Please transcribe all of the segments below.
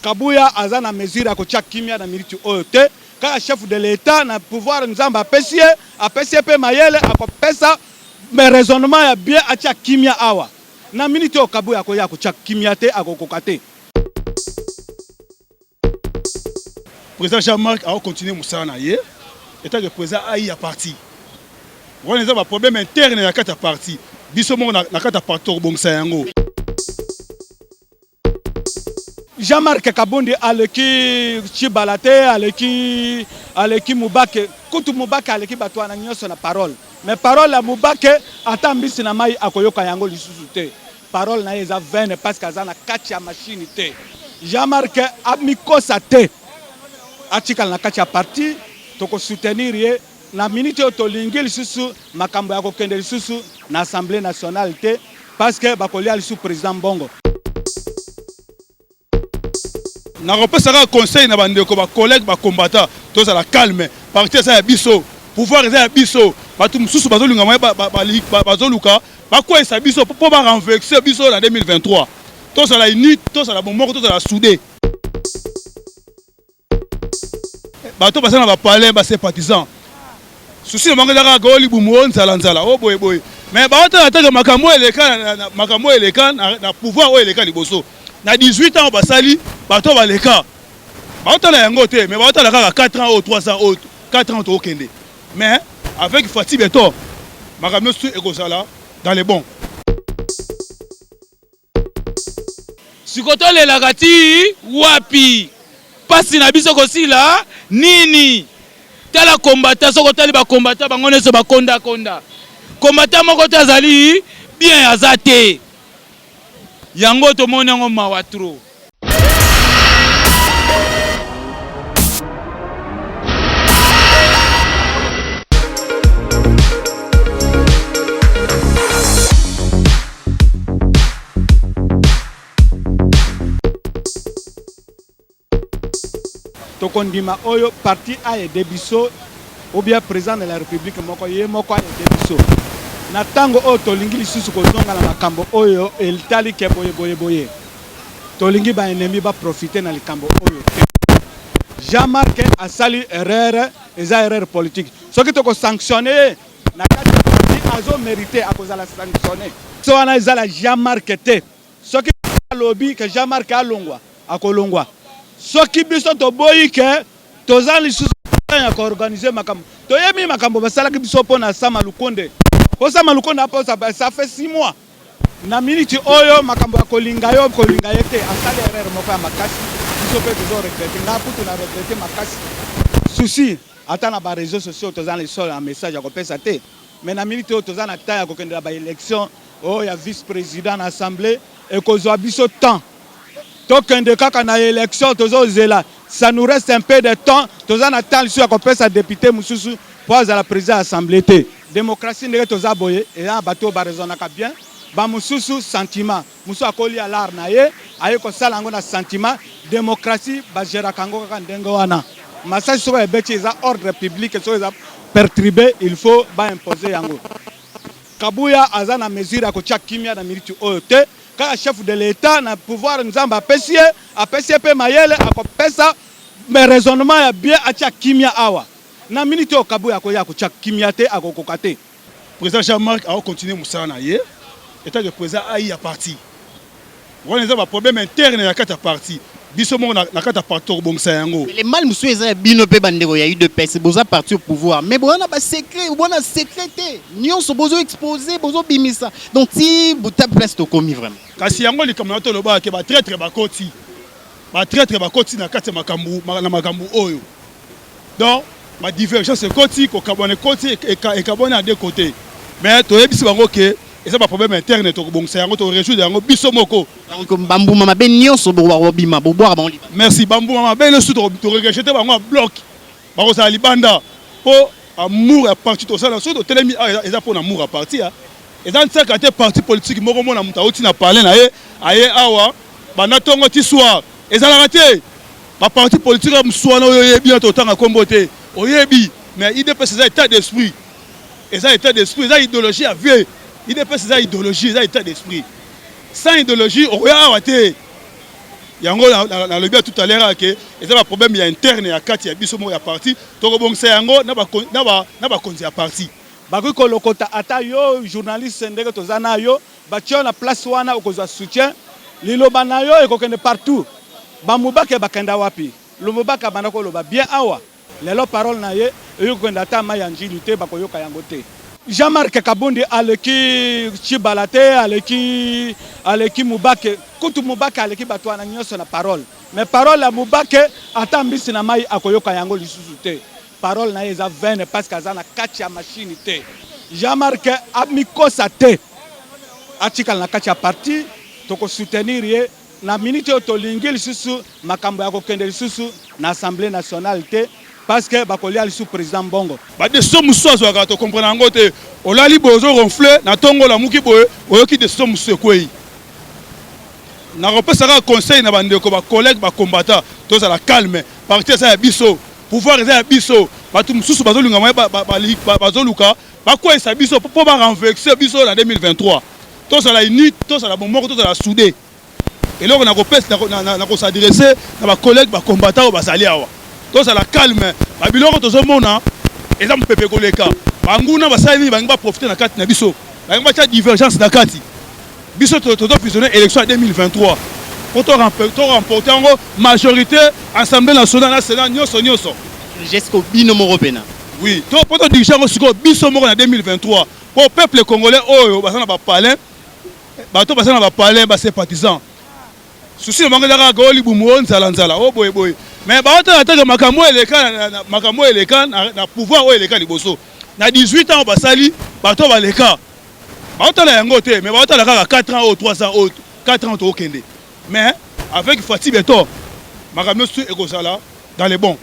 Kabuya aza na mesure ya kotia kimia na minute oyo te, kaka chef de l'etat na pouvoir Nzambe apesi ye, apesi ye pe mayele akopesa mais raisonnement ya bien atia kimia awa. Na minute oyo Kabuya akoya kotia kimia te, akokoka te. President Jean Marc ako continuer musala na ye etant que president ai ya parti. Wana eza ba problèmes internes na kati ya parti. Biso moko na kati ya parti tokobongisa yango. Jean-Marc Kabundi aleki Chibala te, aleki aleki Mubake. Kutu Mubake aleki bato wana nyonso na parole. Mais parole ya Mubake ata mbisi na mai akoyoka yango lisusu te. Parole na ye eza vaine parce que aza na kati ya machine te. Jean-Marc amikosa te. Atikala na kati ya parti, toko soutenir ye. Na minute oyo tolingi lisusu makambo ya kokende lisusu na assemblee nationale te parce que bakolia lisusu president mbongo. Nakopesa kaka conseil na bandeko ba collegues ba combattants tozala calme parti eza ya biso pouvoir eza ya biso batu mususu bazolinga moyen bazoluka bakweyisa biso po ba renverse biso na 2023 tozala unis tozala bomoko tozala soude. bato baza na bapale base partisan susi na bango ezaka kao libumu o nzala nzala o boye boye me baotala atake makambo oyo eleka makambo oyo eleka na pouvoir oyo eleka liboso na 18 ans basali bato oyo baleka baotala yango te me baotala kaka 4 ans oyo 3 ans oyo 4 ans tookende mais avec fati beton makambo nyonso ekozala dans le bon Siko tolelaka ti wapi? Pasi na biso ekosila nini? Tala combattant soki otali ba combattant bango nionso ba konda konda combattant moko te azali bien aza te yango tomoni yango mawa trop. tokondima oyo parti ayede biso obia président de la république moko ye moko ayede biso na ntango oyo tolingi lisusu kozonga na makambo oyo etali ke boye boye boye Tolingi ba ennemis ba profiter na likambo oyo te. Jean Marc asali erreur, eza erreur politique. Soki toko sanctionner ye na kati ya parti, azo meriter, akozala sanctionner. Question wana eza la Jean Marc te. Soki Felix alobi que Jean Marc alongwa, akolongwa. Soki biso toboyi que toza lisusu na temps ya ko organiser makambo, toyebi makambo basalaki biso mpo na Sama Lukonde. Mpo Sama Lukonde aposa, ça fait six mois. Na minute oyo makambo ya kolinga yo kolinga ye te asali erreur moko ya makasi biso pe tozo regrette nga kutu na regrette makasi souci ata na ba reseaux sociaux toza na histoire ya message ya kopesa te mais na minute oyo toza na temps ya kokende na ba election oyo ya vice president na assemblee ekozua biso temps Tokende kaka na election tozo zela ça nous reste un peu de temps toza na temps lisusu ya kopesa depute mususu po azala president ya assemblee te democratie ndenge toza boye eza na bato oyo ba raisonnaka bien ba mususu sentiment mususu akolia lar na ye aye kosala yango na sentiment democratie ba geraka yango kaka ndenge wana masasi soki ebeti eza ordre public soki eza perturbe il faut ba imposer yango kabuya aza na mesure ya kotia kimia na minute oyo te Kaka chef de l'etat na pouvoir nzambe apesi ye apesi ye pe mayele akopesa mais raisonnement ya bien atia kimia awa na minute oyo kabuya akoya akotia kimia te akokoka te. President Jean Marc ako continuer musala na ye etant que president ayi ya parti wana eza ba problème interne na kati ya parti. Biso moko na kati ya parti tokobongisa yango. Mais le mal mosusu eza ya bino pe ba ndeko ya udps boza parti au pouvoir mais boza na ba secret boza na secret te nionso bozo expose bozo bimisa donc ti buta place tokomi vraiment. Kasi yango likambo na tolobaka ke ba traitre bakoti ba traitre bakoti na kati ya makambo na makambo oyo. Donc ba divergence ekoti kokabwana ekoti ekabwani a deux cote mais toyebisi bango ke eza ba problème interne tokobongisa yango tokoresoudre yango biso moko bambuma mabe nyonso bobima bobwaka bango libanda merci bambuma mabe nyonso tokorejete bango a bloc bakozala libanda mpo amour ya parti tosala soki totelemi awa eza mpo na amour ya parti ya eza nsaka te parti politiki moko mona moto auti na palais na ye aye awa banda ntongo ti soir ezalaka te Ba parti politique ya msuana oyo oyebi na totanga kombo te oyebi mais idps eza etat d'esprit eza etat d'esprit eza idéologie ya vie idps eza idéologie eza etat d'esprit sans idéologie okoya awa te yango nalobi ya tout à l'heure ake eza ba problème ya interne ya kati ya biso moko ya parti tokobongisa yango na bakonzi ya parti bakoki kolokota ata yo journaliste ndenge toza na yo Batia yo na place wana okozwa soutien liloba na yo ekokende partout ba mubake bakenda wapi lumubake abanda koloba bien awa lelo parole na ye eyoki kokende ata mayi ya ndjili te bakoyoka yango te. Jean Marc kabundi aleki tshibala te aleki aleki mubake kutu mubake aleki batu wana nioso na parole mais parole ya mubake ata mbisi na mayi akoyoka yango lisusu te. Parole naye eza vaine parce que aza na kati ya machine te. Jean Marc amikosa te. Atikala na kati ya parti toko soutenir ye na minute oyo tolingi lisusu makambo ya kokende lisusu na Assemblée nationale te parce que bakolia lisusu president mbongo. Ba decision mususu azwaka to comprena yango te. Olali boye ozo ronfle na tongo olamuki boye oyoki decision mususu ekweyi. Nakopesa kaka conseil na ba ndeko ba collegues ba combattants tozala calme parti eza ya biso. Pouvoir eza ya biso. Batu mususu bazolinga moyen bazoluka bakweyisa biso mpo ba renverse biso na 2023 tozala unis tozala bomoko tozala soude eloko nakopesa na kosadresse na bacollègue bakombata oyo bazali awa tozala calme babiloko tozomona eza mopepe koleka banguna basali nini bangi baprofite na kati na biso bangi batya divergence na kati Biso tozo fusionner election ya 2023 po to remporter yango majorite assemblee nationale na senat nionso nionso. Jusqu'au bino moko pena. Oui, to po to diriger yango sikoyo biso moko na 2023 po peuple congolais oyo baza na ba palais bato baza na ba palais ba sympathisants susi na bango ezaka kaka libumu o nzala nzala o boye boye mais baotala atake makambo oyo eleka makambo oyo eleka na pouvoir oyo eleka liboso na 18 ans basali bato baleka Baotala yango te, mais baotala kaka 4 ans ou 3 ans ou 4 ans tokende. Mais avec Fatih Beton, makambo nyonso ekozala dans le bon.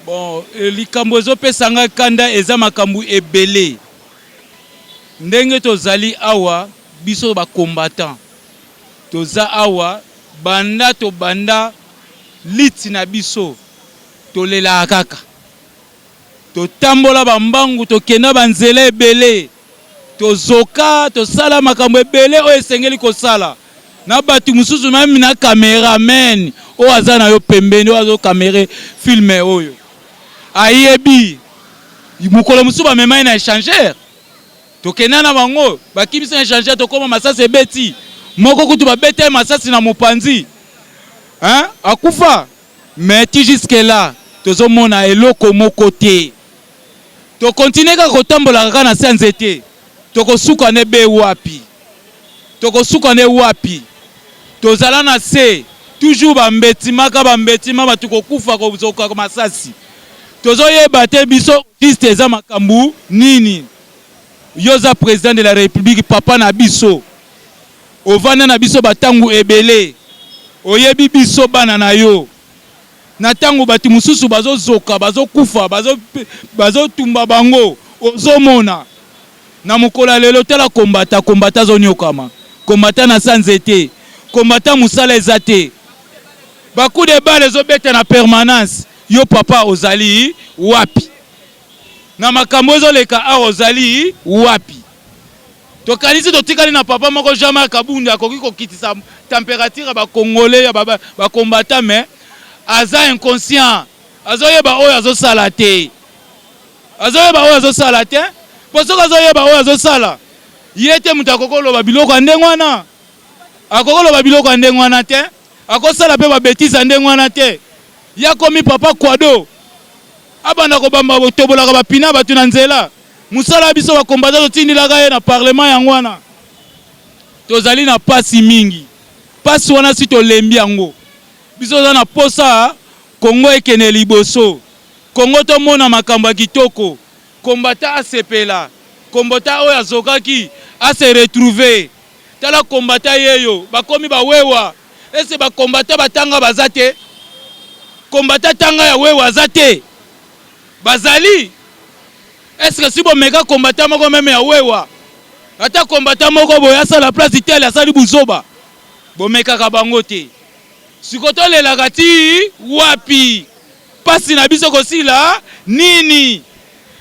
Bon, eh, likambo ezopesa ngai kanda eza makambo ebele. Ndenge tozali awa biso ba combattant toza awa banda tobanda liti na biso tolelaka kaka Totambola ba mbangu, tokenda ba nzela ebele, tozoka, tosala makambo ebele oyo esengeli kosala na batu mususu meme na cameraman oyo aza na yo pembeni, oyo azo camere film oyo ayebi mukolo mususu bamema ye na echangeur, tokenda na bango bakimisi na echangeur, tokoma masasi ebeti moko kutu babeta ye masasi na mopanzi hein akufa. Mais ti jusque là tozo mona eloko moko te. To continuer kaka ko tambolaka kaka na se ya nzete? Toko suka ne be wapi? Toko suka ne wapi? Tozala na se toujours ba mbetima ka ba mbetima batu ko kufa ko zoka masasi. Tozo yeba te biso au juste eza makambu nini? Yo oza president de la republique papa na biso. Ovanda na biso ba tango ebele, oyebi biso bana na yo. Na tango batu mususu bazo zoka, bazo kufa, bazo tumba bango, ozo mona. Na mokolo ya lelo tala combattant, combattant azo niokama, combattant na sans ete, combattant musala eza te. Ba coups de balle ezo beta na permanence, yo papa ozali wapi? Na makambo ezo leka awa ozali wapi? Tokanisi totikali na papa moko Jean Marc Kabund akoki kokitisa temperature ya ba congolais ya ba combattants mais aza inconscient azoyeba oyo azosala te azoyeba oyo azosala te mpo soki azoyeba oyo azosala ye te moto akoki koloba biloko ya ndenge wana akoki koloba biloko ya ndenge wana te akosala mpe babetise ya ndenge wana te ye akomi papa kwado abanda kobamba tobolaka bapina bato na nzela Musala ya biso ba combattant totindelaka ye na parlement yango wana tozali na pasi mingi. Pasi wana si tolembi yango. Biso toza na posa Congo ekende liboso. Congo tomona makambo ya kitoko. Combattant asepela. Combattant oyo azokaki a se retrouver. Tala combattant yeyo bakomi ba wewa. Est ce que ba combattant batanga baza te? Combattant atanga ya wewa aza te? Bazali? Est ce que si bo meka combattant moko meme ya wewa ata combattant moko boye asala place d'Italie asali buzoba? Bo mekaka bango te. Siko to lelaka ti wapi? Pasi na biso eko sila nini?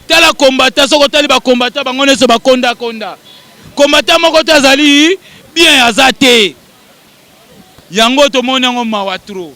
Tala combattant soki otali ba combattant bango nionso ba konda konda. Combattant moko te azali bien aza te. Yango to moni yango mawa trop.